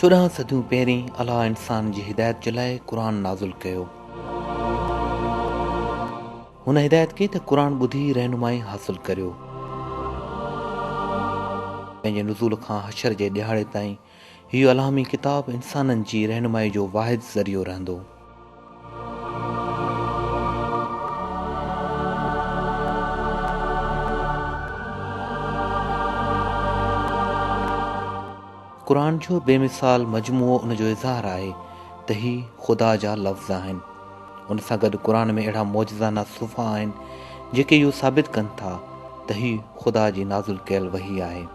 چوڏهن صديون پهرين الله انسان جي هدايت جي لاء قرآن نازل ڪيو. هن هدايت ڪئي ته قرآن ٻڌي رهنمائي حاصل ڪريو. پنهنجي نزول کان حشر جي ڏهاڙي تائين هي الهامي ڪتاب انسانن جي رهنمائي جو واحد ذريعو رهندو. قرآن جو بي مثال مجموعو ان جو اظهار آهي ته هي خدا جا لفظ آهن. ان سان گڏ قرآن ۾ اهڙا معجزانه صفحا آهن جيڪي اهو ثابت ڪن ٿا ته هي خدا جي نازل ڪيل وحي آهي.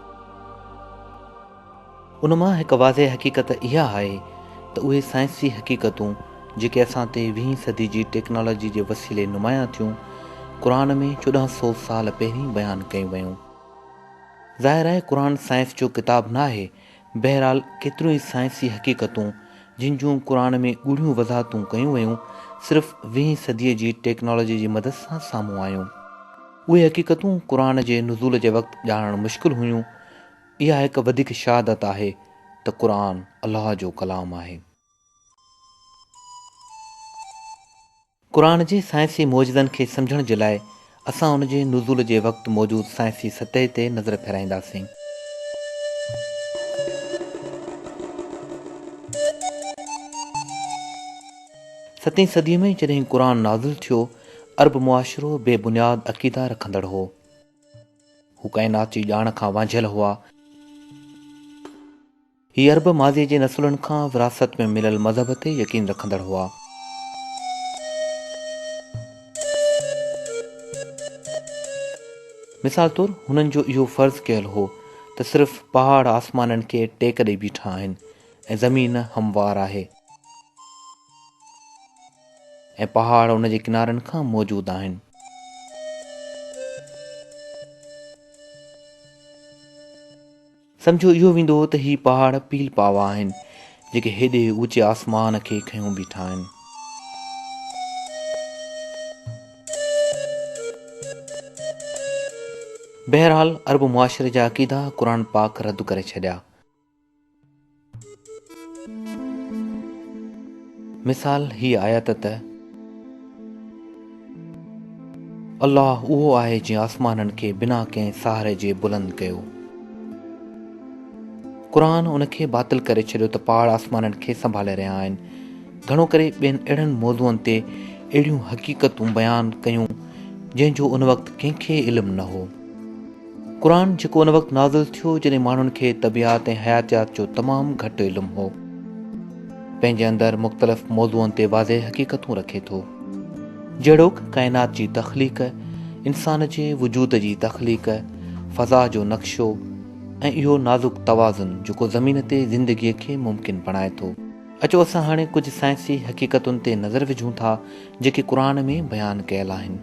ان مان هڪ واضح حقيقت اها آهي ته اهي سائنسي حقيقتون جيڪي اسان تي ويهين صدي جي ٽيڪنالاجي جي وسيلي نمايان ٿيون، قرآن ۾ چوڏهن سؤ سال پهرين بيان ڪيون ويون. ظاهر آهي قرآن سائنس جو ڪتاب نه آهي، بهرحال ڪيتريون ئي سائنسي حقيقتون جن جون قرآن ۾ ڳوڙهيون وضاحتون ڪيون ويون صرف ويهين صديء جي ٽيڪنالاجي جي مدد سان سامهون آيون. اهي حقيقتون قرآن جي نزول جي وقت ڄاڻڻ مشڪل هيون، اها هڪ وڌيڪ شهادت آهي ته قرآن الله جو ڪلام آهي. قرآن جي سائنسي معجزن کي سمجهڻ جي لاء اسان ان جي نزول جي وقت موجود سائنسي سطح تي نظر ڦيرائينداسين. ستين صدي ۾ جڏهن قرآن نازل ٿيو، عرب معاشرو بي بنياد عقيدا رکندڙ هو. هو ڪائنات جي ڄاڻ کان وانجهيل هئا. هي عرب ماضيء جي نسلن کان وراثت ۾ مليل مذهب تي يقين رکندڙ هئا. مثال طور هنن جو اهو فرض ڪيل هو ته صرف پهاڙ آسمانن کي ٽيڪ ڏئي بيٺا آهن ۽ زمين هموار آهي. ۽ پهاڙ ان جي ڪنارن کان موجود آهن. سمجهيو اهو ويندو ته هي پهاڙ پيل پاوا آهن، جيڪي هيڏي اوچي آسمان کي کنيو بيٺا آهن. بهرحال عرب معاشري جا عقيدا قرآن پاڪ رد ڪري ڇڏيا. مثال هي آيت ته، الله اهو آهي جنهن آسمانن کي بنا ڪنهن سهاري جي بلند ڪيو. قرآن ان کي باطل ڪري ڇڏيو ته پاڙ آسمانن کي سنڀالي رهيا آهن. گهڻو ڪري ٻين اهڙن موضوعن تي اهڙيون حقيقتون بيان ڪيون جنهن جو ان وقت ڪنهن کي علم نه هو. قرآن جيڪو ان وقت نازل ٿيو جڏهن ماڻهن کي طبعيات ۽ حياتيات جو تمام گهٽ علم هو. پنهنجي اندر مختلف موضوعن تي واضح حقيقتون رکي ٿو. جهڙوڪ ڪائنات جي تخليق، انسان جي وجود جي تخليق، فضا جو نقشو ۽ اهو نازڪ توازن جيڪو زمين تي زندگيء کي ممڪن بڻائي ٿو. اچو اسان هاڻي ڪجهه سائنسي حقيقتن تي نظر وجهون ٿا جيڪي قرآن ۾ بيان ڪيل آهن.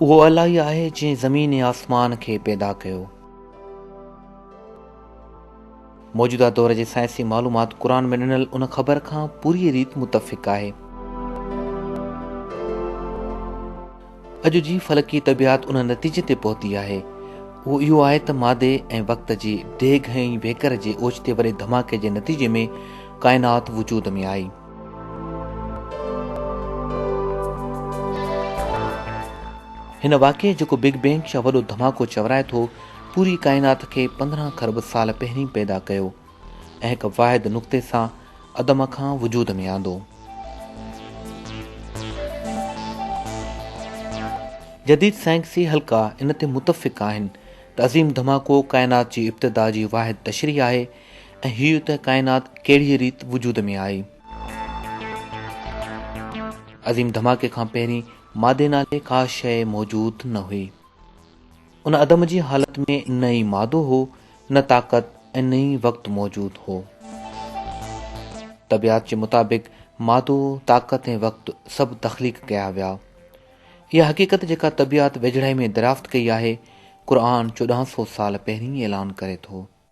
اهو الله ئي آهي جنهن زمين ۽ آسمان کي پيدا ڪيو. موجوده دور جي سائنسي معلومات قرآن ۾ ڏنل ان خبر کان پوريء ريت متفق آهي. اڄ جي فلڪي طبعيات ان نتيجي تي پهتي آهي. اهو اهو آهي ته مادي ۽ وقت جي ڊيگهه ۽ ويڪر جي اوچتي وڏي ڌماڪي جي نتيجي ۾ ڪائنات وجود ۾ آئي. هن واقعي جيڪو بگ بينگ يا وڏو ڌماڪو چورائي ٿو، پوري ڪائنات کي پندرهن کرب سال پهرين پيدا ڪيو ۽ هڪ واحد نقطي سان عدم کان وجود ۾ آندو. جديد سائنسي حلقا ان تي متفق آهن ته عظيم ڌماڪو ڪائنات جي ابتدا جي واحد تشريح آهي ۽ هيء ته ڪائنات ڪهڙيء ريت وجود ۾ آئي. عظيم ڌماڪي کان پهرين مادي نالي ڪا شيء موجود نه هئي. ان عدم جي حالت ۾ نه ئي مادو هو، نه طاقت ۽ نه ئي وقت موجود هو. طبعيات جي مطابق مادو، طاقت ۽ وقت سڀ تخليق ڪيا ويا. اها حقيقت جيڪا طبعيات ويجهڙائي ۾ دريافت ڪئي آهي، قرآن چوڏهن سو سال پهرين ئي اعلان ڪري ٿو.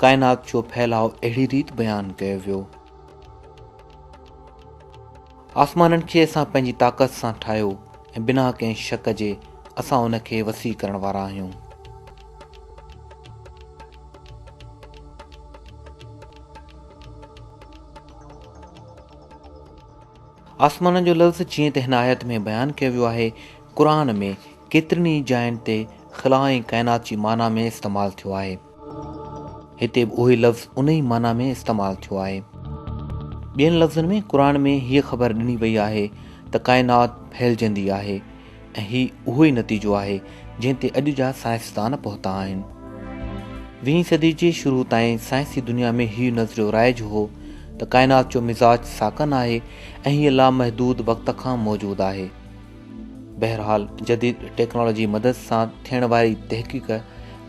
ڪائنات جو ڦهلاء اهڙي ريت بيان ڪيو ويو. آسمانن کي اسان پنهنجي طاقت سان ٺاهيو ۽ بنا ڪنهن شڪ جي اسان ان کي وسيع ڪرڻ وارا آهيون. آسمانن جو لفظ جيئن ته هن آيت ۾ بيان ڪيو ويو آهي، قرآن ۾ ڪيترين ئي جاين تي خلا ۽ ڪائنات جي معنيٰ ۾ استعمال ٿيو آهي. هتي به اهوئي لفظ انهيء معنيٰ ۾ استعمال ٿيو آهي. ٻين لفظن ۾ قرآن ۾ هيء خبر ڏني وئي آهي ته ڪائنات ڦهلجندي آهي ۽ هي اهوئي نتيجو آهي جنهن تي اڄ جا سائنسدان پهتا آهن. ويهين صدي جي شروع تائين سائنسي دنيا ۾ هيء نظريو رائج هو ته ڪائنات جو مزاج ساڪن آهي ۽ هيء لامحدود وقت کان موجود آهي. بهرحال جديد ٽيڪنالاجي مدد سان ٿيڻ واري تحقيق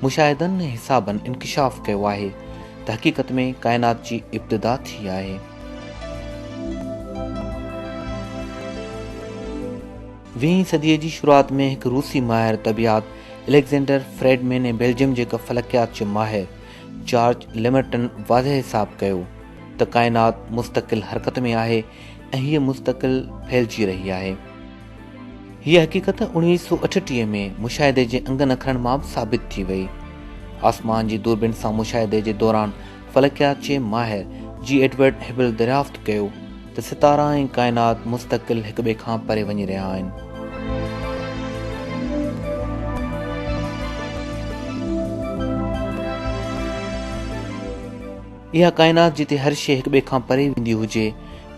مشاهدن ۽ حسابن انڪشاف ڪيو آهي ته حقيقت ۾ ڪائنات جي ابتدا ٿي آهي. ويهين صديء جي شروعات ۾ هڪ روسي ماهر طبعيات اليگزينڊر فريڊمين ۽ بيلجيم جي هڪ فلڪيات جي ماهر جارج ليمرٽن واضح حساب ڪيو ته ڪائنات مستقل حرڪت ۾ آهي ۽ هيء مستقل ڦهلجي رهي آهي. هيء حقيقت اڻويهه سؤ اٺٽيهه ۾ مشاهدي جي انگن اکرن مان به ثابت ٿي وئي. آسمان جي دوربين سان مشاهدي جي دوران فلڪيات جي ماهر جي ايڊورڊ هبل دريافت ڪيو ته ستارا ۽ ڪائنات مستقل هڪ ٻئي کان پري وڃي رهيا آهن. اها ڪائنات جتي هر شيء هڪ ٻئي کان پري ويندي هجي،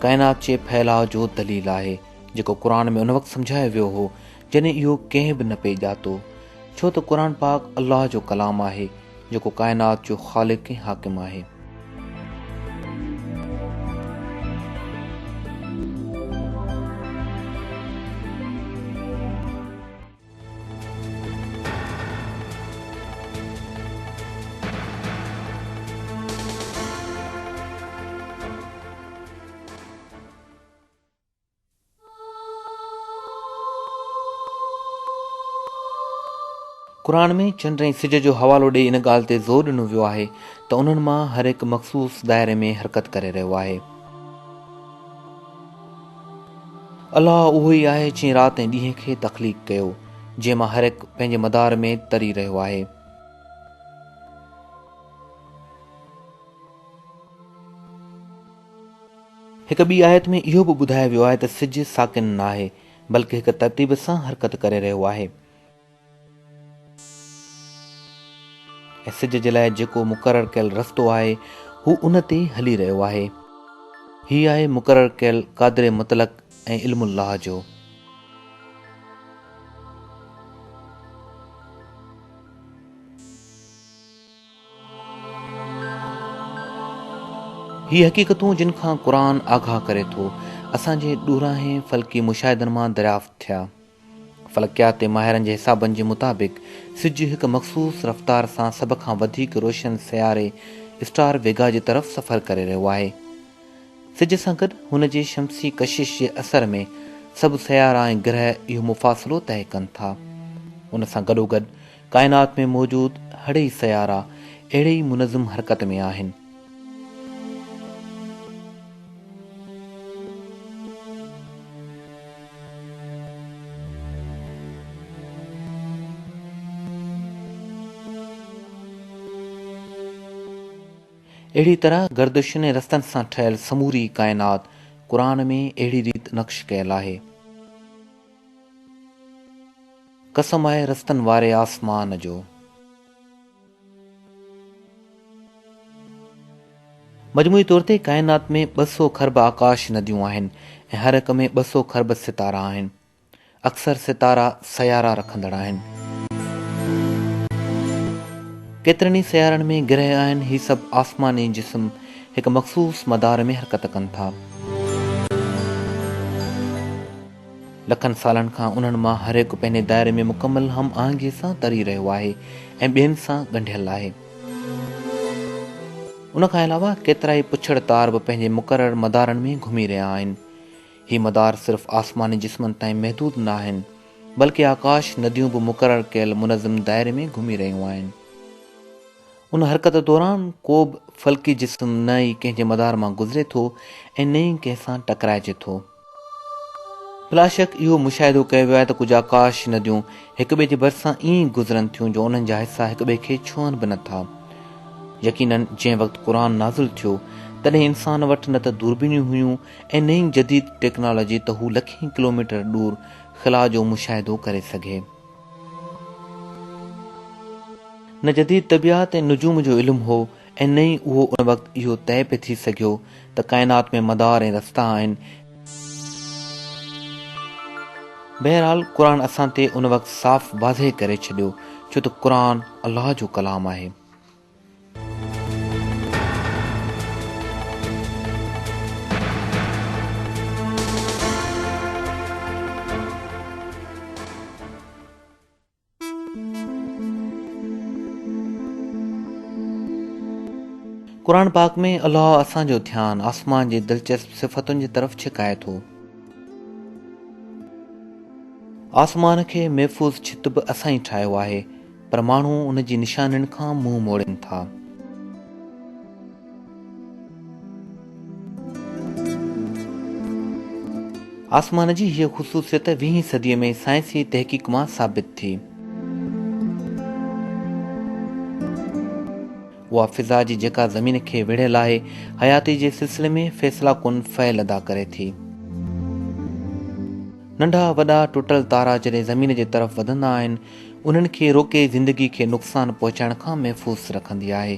ڪائنات جي ڦهلاء جو دليل آهي، جيڪو قرآن ۾ ان وقت سمجهايو ويو هو، جڏهن اهو ڪنهن به نه پئي ڄاتو. ڇو ته قرآن پاڪ الله جو ڪلام آهي، جيڪو ڪائنات جو خالق ۽ حاڪم آهي. قرآن ۾ چنڊ ۽ سج جو حوالو ڏيئي ان ڳالهه تي زور ڏنو ويو آهي ته انهن مان هر هڪ مخصوص دائري ۾ حرڪت ڪري رهيو آهي. الله اهو ئي آهي جنهن رات ۽ ڏينهن کي تخليق ڪيو، جنهن مان هر هڪ پنهنجي مدار ۾ تري رهيو آهي. هڪ ٻي آيت ۾ اهو به ٻڌايو ويو آهي ته سج ساڪن ناهي، بلڪه هڪ ترتيب سان حرڪت ڪري رهيو آهي. ۽ سج جي لاء جيڪو مقرر ڪيل رستو آهي هو ان تي هلي رهيو آهي. هي آهي مقرر ڪيل قادر مطلق ۽ علم الله جو. هي حقيقتون جن کان قرآن آگاهه ڪري ٿو، اسان جي ڏورانهين فلڪي مشاهدن مان دريافت ٿيا. فلڪياتي ماهرن جي حسابن جي مطابق سج هڪ مخصوص رفتار سان سڀ کان وڌيڪ روشن سياري اسٽار ويگا جي طرف سفر ڪري رهيو آهي. سج سان گڏ هن جي شمسي ڪشش جي اثر ۾ سڀ سيارا ۽ گرهه اهو مفاصلو طئي ڪن ٿا. ان سان گڏوگڏ ڪائنات ۾ موجود هڙئي سيارا اهڙي ئي منظم حرڪت ۾ آهن. اهڙي طرح گردشن ۽ رستن سان ٺهيل سموري ڪائنات قرآن ۾ اهڙي ريت نقش ڪيل آهي. قسم آهي رستن واري آسمان جو. مجموعي طور تي ڪائنات ۾ ٻه سؤ کرب آڪاش نديون آهن ۽ هر هڪ ۾ ٻه سؤ کرب ستارا آهن. اڪثر ستارا سيارا رکندڙ آهن. ڪيترن ئي سيارن ۾ گرهه آهن. هي سڀ آسماني جسم هڪ مخصوص مدار ۾ حرڪت ڪن ٿا. لکن سالن کان انهن مان هر هڪ پنهنجي دائري ۾ مڪمل هم آهنگيء سان تري رهيو آهي ۽ ٻين سان ڳنڍيل آهي. ان کان علاوه ڪيترائي پڇڙ تار به پنهنجي مقرر مدارن ۾ گهمي رهيا آهن. هي مدار صرف آسماني جسمن تائين محدود نه آهن، بلڪه آڪاش نديون به مقرر ڪيل منظم دائري ۾ گهمي رهيون آهن. ان حرڪت دوران ڪو به فلڪي جسم نه ئي ڪنهن جي مدار مان گذري ٿو ۽ نه ئي ڪنهن سان ٽڪرائجي ٿو. بلاشڪ اهو مشاهدو ڪيو ويو آهي ته ڪجهه آڪاش نديون هڪ ٻئي جي ڀرسان ائين گذرن ٿيون جو انهن جا حصا هڪ ٻئي کي ڇهن به نٿا. يقيناً جنهن وقت قرآن نازل ٿيو تڏهن انسان وٽ نه ته دوربينيون هيون ۽ نه ئي جديد ٽيڪنالاجي ته هو لکين ڪلوميٽر ڏور خلا جو مشاهدو ڪري سگهي. نه جديد طبعيات ۽ نجوم جو علم هو ائين ئي اهو ان وقت اهو طئي پئي ٿي سگهيو ته ڪائنات ۾ مدار ۽ رستا آهن. بهرحال قرآن اسان تي ان وقت صاف واضح ڪري ڇڏيو ڇو ته قرآن الله جو ڪلام آهي. قرآن پاڪ ۾ الله اسان جو ڌيان آسمان جي دلچسپ صفتن جي طرف ڇڪائي ٿو. آسمان کي محفوظ ڇت به اسان ئي ٺاهيو آهي پر ماڻهو ان جي نشانين کان منهن موڙين ٿا. آسمان جي هيء خصوصيت ويهين صديء ۾ سائنسي تحقيق مان ثابت ٿي. اها فضا جي جيڪا زمين کي ويڙهيل آهي، حياتي جي سلسلي ۾ فيصله ڪن فعل ادا ڪري ٿي. ننڍا وڏا ٽٽل تارا جڏهن زمين جي طرف وڌندا آهن، انهن کي روڪي زندگي کي نقصان پهچائڻ کان محفوظ رکندي آهي.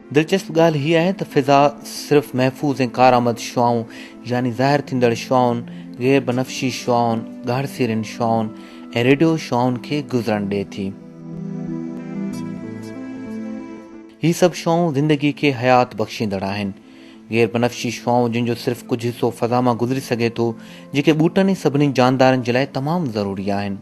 دلچسپ ڳالهه هيء آهي ته فضا صرف محفوظ ۽ ڪارآمد شعاعون يعني ظاهر ٿيندڙ شعاعن، غير بنفشي شعاعن، ڳاڙهسيرين شعاعن ۽ ريڊيو شعاعن کي گذرڻ ڏئي ٿي. هي سڀ شعاعون زندگي کي حيات بخشيندڙ آهن. غير بنفشي شعاعون جن جو صرف ڪجهه حصو فضا مان گذري سگهي ٿو، جيڪي ٻوٽن ۽ سڀني جاندارن جي لاء تمام ضروري آهن.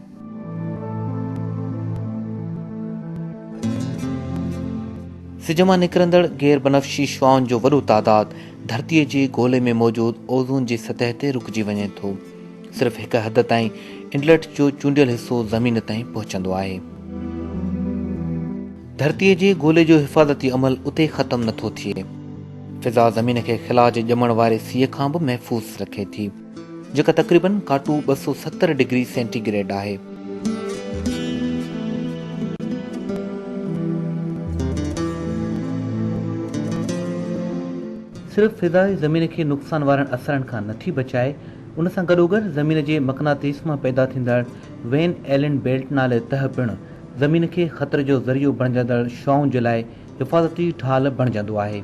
سج مان نڪرندڙ غير بنفشي شعاعن جو وڏو تعداد ڌرتيء جي گولي ۾ موجود اوزون جي سطح تي رڪجي وڃي ٿو. صرف هڪ حد تائين انڊلٽ جو چونڊيل حصو زمين تائين پهچندو آهي. ڌرتيء جي گولي جو حفاظتي عمل اتي ختم نه ٿو ٿئي. فضا زمين کي خلا جي ڄمڻ واري سيء کان به محفوظ رکي ٿي، جيڪا تقريباً ڪاٽو ٻه سؤ ستر ڊگري سينٽي گريڊ آهي. صرف فضا ئي زمين کي نقصان وارن اثرن کان نه ٿي بچائي، ان سان گڏوگڏ زمين جي مقناطيس مان پيدا ٿيندڙ وين ايلن بيلٽ نالي تهه پڻ زمين کي خطري جو ذريعو بڻجندڙ شعائن جي لاء حفاظتي ڍال بڻجندو آهي.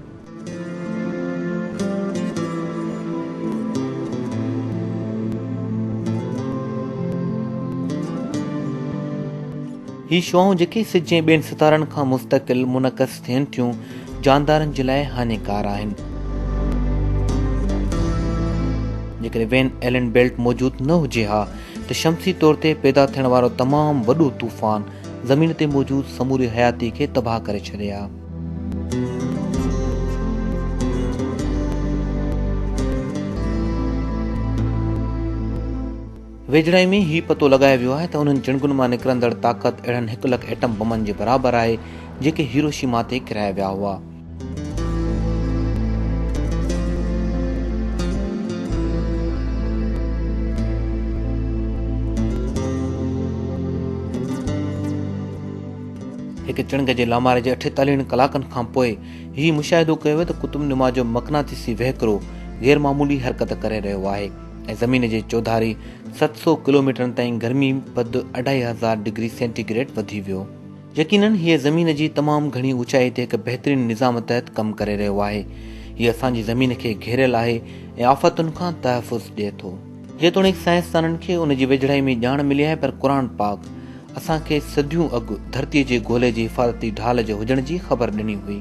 هي شعائون جيڪي سج ۽ ٻين ستارن کان مستقل منعڪس ٿين ٿيون، جاندارن جي لاء هاڃيڪار آهن. جيڪڏهن وين ايلن بيلٽ موجود نه هجي ها ته شمسي طور تي پيدا ٿيڻ وارو تمام وڏو طوفان زمين تي موجود سموري حياتي کي تباهه ڪري ڇڏي ها. ويجهڙائي ۾ هي پتو لڳايو ويو آهي ته انهن جڻگن مان نڪرندڙ طاقت اهڙن هڪ لک ايٽم بمن جي برابر آهي جيڪي هيروشيما تي ڪيرايا ويا هئا. هڪ چڻگ جي لاماري جي اٺيتاليهن ڪلاڪن کان پوء هي مشاهدو ڪيو ويو ته قطب نما جو مقناطيسي وهڪرو غير معمولي حرڪت ڪري رهيو آهي ۽ زمين جي چوڌاري ست سؤ ڪلوميٽرن تائين گرمي پد اڍائي هزار ڊگري سينٽي گريڊ وڌي ويو يقينن هيء زمين جي تمام گهڻي اوچائي تي هڪ بهترين نظام تحت ڪم ڪري رهيو آهي. هيء اسان جي زمين کي گهيريل آهي ۽ آفتن کان تحفظ ڏئي ٿو. جيتوڻيڪ سائنسدانن کي ان جي ويجهڙائي ۾ ڄاڻ ملي آهي پر قرآن پاڪ اسان کي صديون اڳ ڌرتيء جي گولي جي حفاظتي ڍال جي هجڻ جي خبر ڏني هئي.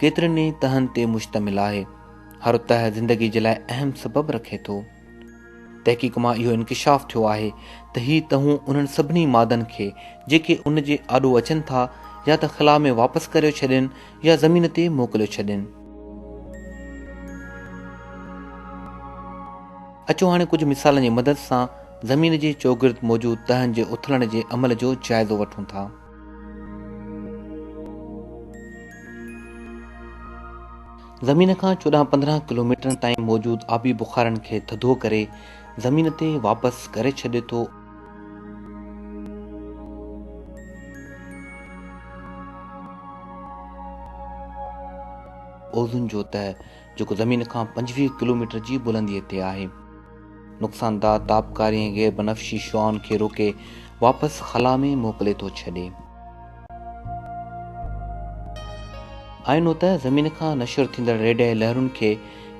ڪيترن ئي تهن تي مشتمل آهي. هر تهه زندگي جي لاء اهم سبب رکي ٿو. تحقيق مان اهو انڪشاف ٿيو آهي ته هي تهون انهن سڀني مادن کي جيڪي ان جي آڏو اچن ٿا يا ته خلا ۾ واپس ڪريو ڇڏين يا زمين تي موڪليو ڇڏين. اچو هاڻي ڪجهه مثالن جي مدد سان زمين جي چوگرد موجود تهن جي اٿلڻ جي عمل جو جائزو وٺون ٿا. زمين کان چوڏهن پندرهن ڪلوميٽرن تائين موجود آبي بخارن کي ٿڌو ڪري زمين تي واپس گهري ڇڏي ٿو. اوزون جو تهه جيڪو زمين کان پنجويهه ڪلوميٽر جي بلنديء تي آهي. نقصانده تابڪاري ۽ غير بنفشي شعاعن کي روڪي واپس خلا ۾ موڪلي ٿو ڇڏي. آئينو ته زمين کان نشر ٿيندڙ ريڊيائي لهرن کي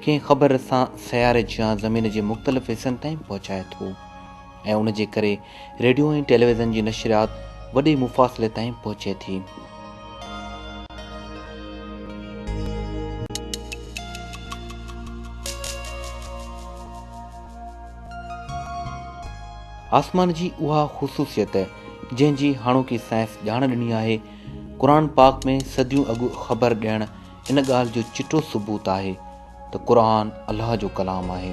ڪنهن خبر سان سياري جيان زمين جي مختلف حصن تائين پهچائي ٿو. ۽ ان جي ڪري ريڊيو ۽ ٽيليويزن جي نشريات وڏي مفاصلي تائين پهچي ٿي. آسمان جي اها خصوصيت جنهن جي هاڻوڪي سائنس ڄاڻ ڏني آهي، قرآن پاڪ ۾ صديون اڳ خبر ڏيڻ ان ڳالهه جو چٽو ثبوت آهي ته قرآن الله جو ڪلام آهي.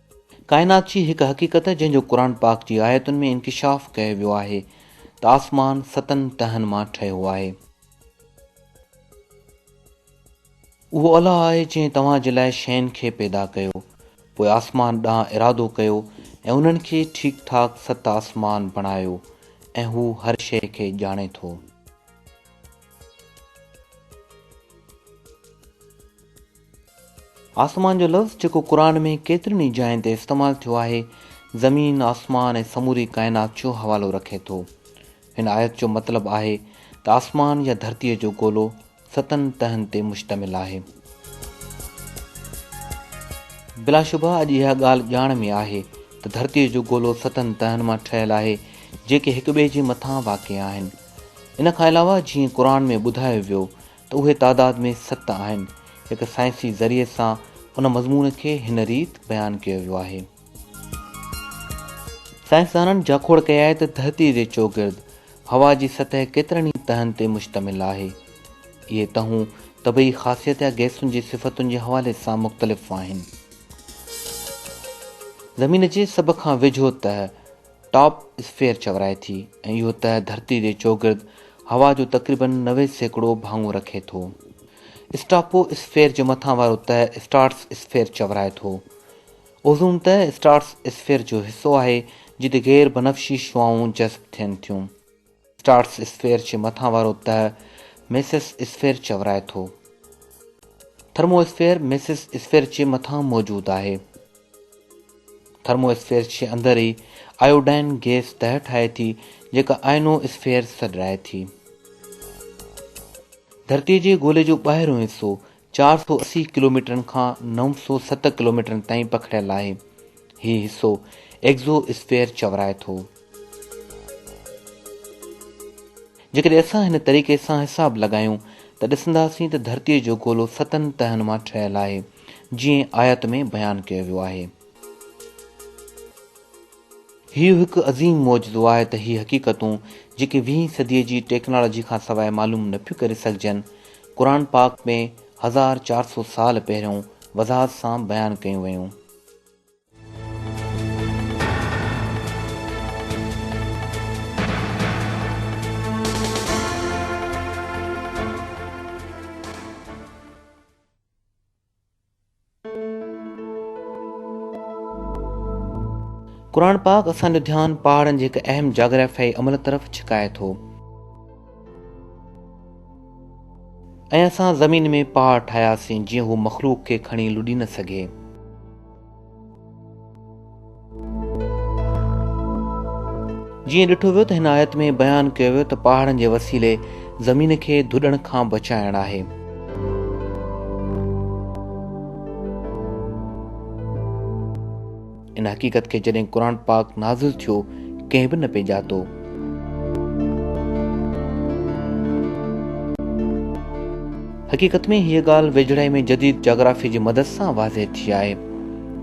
ڪائنات جي هڪ حقيقت جنهن جو قرآن پاڪ جي آيتن ۾ انڪشاف ڪيو ويو آهي ته آسمان ستن تهن مان ٺهيو آهي. اهو الله آهي جنهن توهان جي لاء شين کي پيدا ڪيو، پوء آسمان ڏانهن ارادو ڪيو ۽ انهن کي ٺيڪ ٺاڪ ست آسمان بڻايو ۽ هو هر شيء کي ڄاڻي ٿو. آسمان جو لفظ جيڪو قرآن ۾ ڪيترين ئي جاين تي استعمال ٿيو آهي، زمين، آسمان ۽ سموري ڪائنات جو حوالو رکي ٿو. هن آيت جو مطلب آهي ته آسمان يا ڌرتيء جو گولو ستن تهن تي مشتمل آهي. بلاشبه اڄ اها ڳالهه ڄاڻ ۾ آهي ته ڌرتيء جو گولو ستن تهن مان ٺهيل آهي، جيڪي هڪٻئي جي مٿان واقع آهن. ان کان علاوه جيئن قرآن ۾ ٻڌايو ويو ته اهي تعداد ۾ ست آهن. هڪ سائنسي ذريعي سان ان مضمون کي هن ريت بيان ڪيو ويو آهي. سائنسدانن جاکوڙ ڪئي آهي ته ڌرتيء جي چوگرد هوا جي سطح ڪيترن ئي تهن تي مشتمل آهي. اهي تهون طبعي خاصيت يا گئسن جي صفتن جي حوالي سان مختلف آهن. زمين جي سڀ کان ويجهو تهه، ٽاپ اسفيئر چورائي ٿي ۽ اهو تهه ڌرتي جي چوگرد هوا جو تقريباً نوي سيڪڙو ڀاڱو رکي ٿو. اسٽاپو اسفيئر جو مٿان وارو تهه اسٽارٽس اسفيئر چورائي ٿو. اوزون تهه اسٽارٽس اسفيئر جو حصو آهي جتي غير بنفشي شعاعون جذب ٿين ٿيون. اسٽارٽس اسفيئر جي مٿان وارو تهه ميسس اسفيئر چورائي ٿو. ٿرمو اسفيئر ميسس اسفيئر جي مٿان موجود آهي. ٿرمو اسفيئر جي اندر ئي آيوڊائن گيس تهه ٺاهي ٿي جيڪا آئنو اسفيئر سڏرائي ٿي. ڌرتي جي گولي جو ٻاهريون حصو چار سؤ اسي ڪلوميٽرن کان نو سؤ ست ڪلوميٽرن تائين پکڙيل آهي. هي حصو ايگزو اسفيئر چورائي ٿو. جيڪڏهن اسان هن طريقي سان حساب لڳايون ته ڏسنداسين ته ڌرتيء جو گولو ستن تهن مان ٺهيل آهي، جيئن آيت ۾ بيان ڪيو ويو آهي. هيء هڪ عظيم معجزو آهي ته هي حقيقتون، جيڪي ويهين صديء جي ٽيڪنالاجي کان سواء معلوم نه ٿيون ڪري سگهجن، قرآن پاڪ ۾ هزار چار سو سال پهريون وضاحت سان بيان ڪيون ويون. قرآن پاڪ اسان جو ڌيان پهاڙن جي هڪ اهم جاگرافيائي عمل طرف ڇڪائي ٿو ۽ اسان زمين ۾ پهاڙ ٺاهياسين جيئن هو مخلوق کي کڻي لڏي نه سگهي. جيئن ڏٺو ويو ته هن آيت ۾ بيان ڪيو ويو ته پهاڙن جي وسيلي زمين کي ڌڏڻ کان بچائڻ آهي. ان حقيقت کي جڏهن قرآن پاڪ نازل ٿيو ڪنهن به نه پئي ڄاتو. حقيقت ۾ هيء ڳالهه ويجهڙائي ۾ جديد جاگرافيء جي مدد سان واضح ٿي آهي.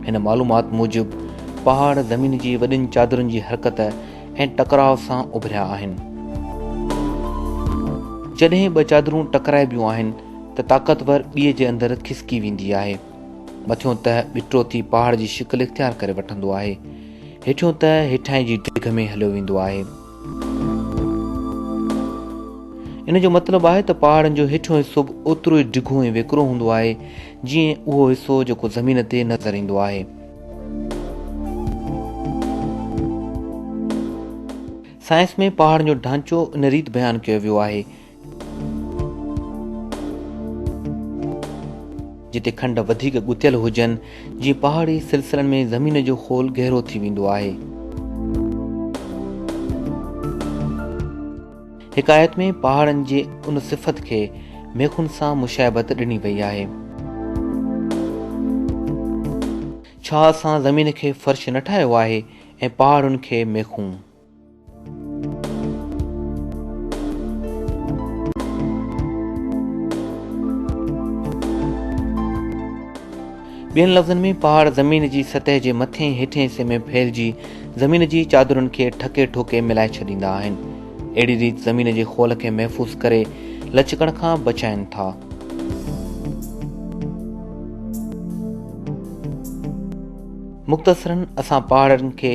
هن معلومات موجب پهاڙ زمين جي وڏين چادرن جي حرڪت ۽ ٽڪراء سان اڀريا آهن. جڏهن ٻه چادرون ٽڪرائبيون آهن ته طاقتور ٻيء جي اندر کسڪي ويندي آهي. مٿيون تهه ٻٽرو ٿي پهاڙ جي شڪل اختيار ڪري وٺندو آهي. هيٺيون تهه هيٺائين جي ڊگهه ۾ هليو ويندو آهي. ان جو مطلب آهي ته پهاڙن جو هيٺيون حصو به اوترو ئي ڊگهو ۽ ويڪرو هوندو آهي جيئن اهو حصو جيڪو زمين تي نظر ايندو آهي. سائنس ۾ پهاڙن جو ڍانچو ان ريت بيان ڪيو ويو آهي. جتي کنڊ وڌيڪ ڳتيل هجن، جيئن پهاڙي سلسلن ۾ زمين جو خول گهرو ٿي ويندو آهي. حڪايت ۾ پهاڙن جي ان صفت کي ميخن سان مشابهت ڏني وئي آهي. ڇا اسان زمين کي فرش نه ٺاهيو آهي ۽ پهاڙن کي ميخون؟ ٻين لفظن ۾ پهاڙ زمين جي سطح جي مٿين هيٺين حصي ۾ ڦهلجي زمين جي چادرن کي ٺڪي ٺوڪي ملائي ڇڏيندا آهن اهڙي ريت زمين جي خول کي محفوظ ڪري لچڪڻ کان بچائين ٿا مختصرن اسان پهاڙن کي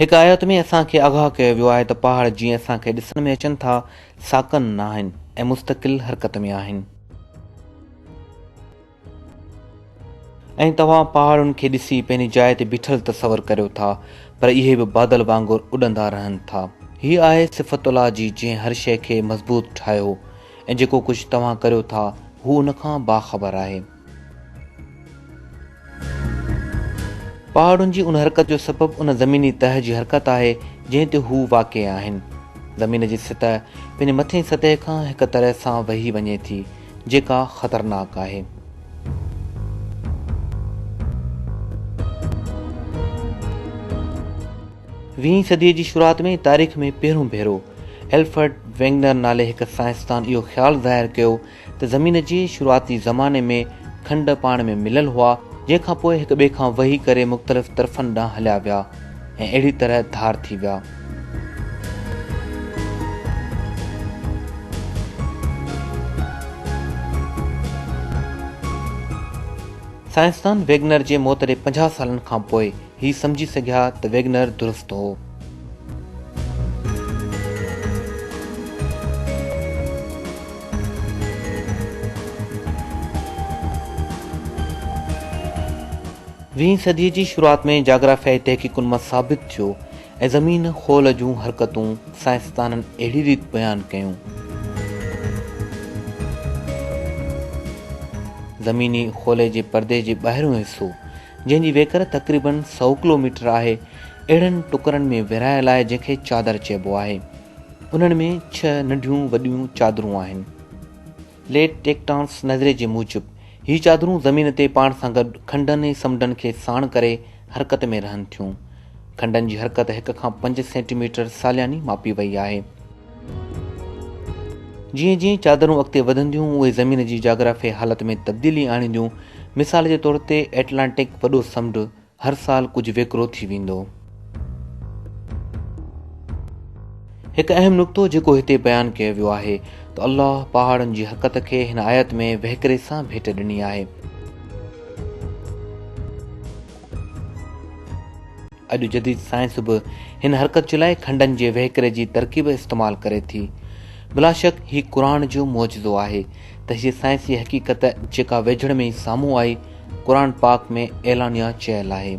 هڪ آيت ۾ اسان کي آگاهه ڪيو ويو آهي ته پهاڙ جيئن اسان کي ڏسڻ ۾ اچن ٿا، ساڪن نه آهن ۽ مستقل حرڪت ۾ آهن. ۽ توهان پهاڙن کي ڏسي پنهنجي جاء تي بيٺل تصور ڪريو ٿا، پر اهي به بادل وانگر اڏندا رهن ٿا. هي آهي صفت الله جي جنهن هر شيء کي مضبوط ٺاهيو ۽ جيڪو ڪجهه توهان ڪريو ٿا، هو ان کان باخبر آهي. پهاڙن جي ان حرڪت جو سبب ان زميني تهه جي حرڪت آهي جنهن تي هو واقع آهن. زمين جي سطح پنهنجي مٿئين سطح کان هڪ طرح سان وهي وڃي ٿي جيڪا خطرناڪ آهي. ويهين صديء جي شروعات ۾ تاريخ ۾ پهرون ڀيرو الفرڊ ويگنر نالي هڪ سائنسدان اهو خيال ظاهر ڪيو ته زمين جي شروعاتي زماني ۾ کنڊ پاڻ ۾ مليل هئا، جنهن کان پوء هڪ ٻئي کان وهي ڪري مختلف طرفن ڏانهن هليا ويا ۽ اهڙي طرح ڌار ٿي ويا. سائنسدان ويگنر جي موت ڏي پنجاهه سالن کان پوء، هي سمجهي سگهيا ته ويگنر درست هو. ويهين صديء جي شروعات ۾ جاگرافيائي تحقيقن مان ثابت ٿيو ۽ زمين خول جون حرڪتون سائنسدانن اهڙي ريت بيان ڪيون. زميني خولي جي پردي جي ٻاهريون حصو جنهن جي ويڪر تقريباً سؤ ڪلو ميٽر آهي، اهڙن ٽڪرن ۾ ورهايل آهي جنهن کي چادر چئبو آهي. انهن ۾ ڇهه ننڍيون وڏيون چادرون آهن. ليٽ ٽيڪٽانس نظريي جي موجب، هي چادرون زمين تي پاڻ سان گڏ کنڊن ۽ سمنڊن کي ساڻ ڪري حرڪت ۾ رهن ٿيون. کنڊن جي حرڪت هڪ کان پنج سينٽي ميٽر سالياني ماپي وئي آهي. جيئن جيئن چادرون اڳتي وڌنديون اهي زمين جي جاگرافيائي حالت ۾ تبديلي آڻينديون، مثال جي طور تي ائٽلانٽڪ وڏو سمنڊ هر سال ڪجهه ويڪرو ٿي ويندو. هڪ اهم نقطو جيڪو هتي بيان ڪيو ويو آهي ته الله پهاڙن جي حقت کي هن آيت ۾ وهڪري سان ڀيٽ ڏني آهي. اڄ جديد سائنس به هن حرڪت جي لاء کنڊن جي وهڪري جي ترڪيب استعمال ڪري ٿي. بلاشڪ هي قرآن جو معجزو آهي ته هيء سائنسي حقيقت جيڪا ويجهڙ ۾ ئي سامهون آئي، قرآن پاڪ ۾ اعلانيه چيل آهي.